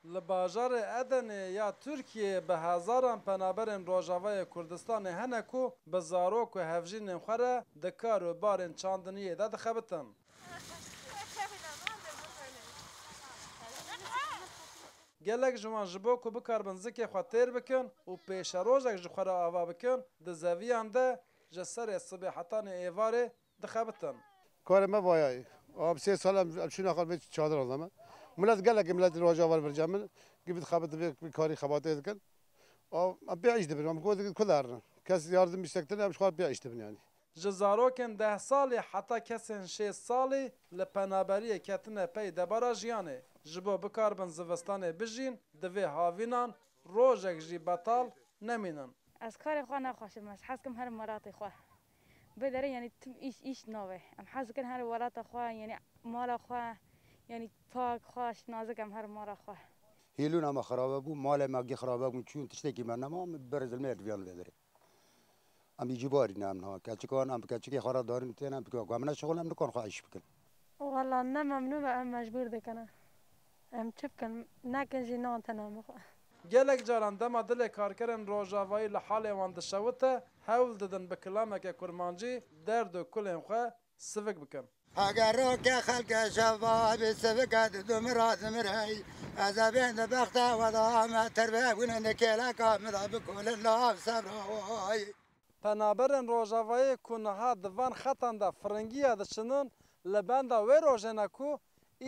Li bajarê Edenê ya Tirkiyeyê bi hezaran penaberên Rojavayê Kurdistanê hene ku bi zarok û hevjînên xwe re di kar û barên çandiniyê de dixebitin. Gelek ji wan ji bo ku bikarbin zikê xwe têr bikin û pêşerojek ji xwe re ava bikin di zeviyan de ji serê sibêhetanê êvarê dixebitin. Karê me vaya ye. Am sê sal em em çûna xal vê çadiran de me. Milet gelekê miletî Rojava li vir cem in. Gih bi dixebitin vê vê karî xebatê dikin. Am em pê îş dibin. Em got dikin ku derin. Kes yardim îştek tine em ji xwe pê îş dibin yanî. Ji zarokên deh salî heta kesên şêst salî li penaberiyê ketine pey debara jiyanê. Ji bo bikaribin zivistanê bijîn divê havînan rojek jî betal nemînin. Ez karê xwe naxweşim. Ez hez dikim herim welatê xwe. Bi derê yanî tim îş îş nabe. Em hez dikin her welata xwe yanî mala xwe yanî pak, xweş, nazik em her mala xwe. Hêlûna me xirabe bû, malê me xirabe bûn çûn tiştekî me nema, min bi berê zilmê diviya li vê derê. Em îcîbarî ne em niha keçikan em bi keçikê xwe re darîn û têne em bi ku em ne şixul em nikan xwe îş bikin. Wela ne memnûn be em mecbûr dikin e. Em çi bikin? Nekin jî nan tena min xwe. Gelek caran dema dilê karkerên rojavayî li halê wan dişewite, hewl didin bi kilameke kurmancî derd û kulên xwe sivik bikin. Heger roke xelke şeva bî sivike didu min ra zimirey. Ez ê bên di bexta we de me tirve bûne di kêleka min de bikolin lav sebra wayî. Penaberên Rojavayê ku niha di van xetan de firingiya diçinin li benda wê rojê ne ku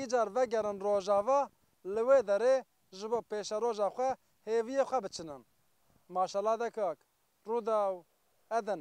îcar vegerin Rojava li wê derê ji bo pêşeroja xwe hêviyê xwe biçinin. Maşela de kak. Rûdaw, Edn.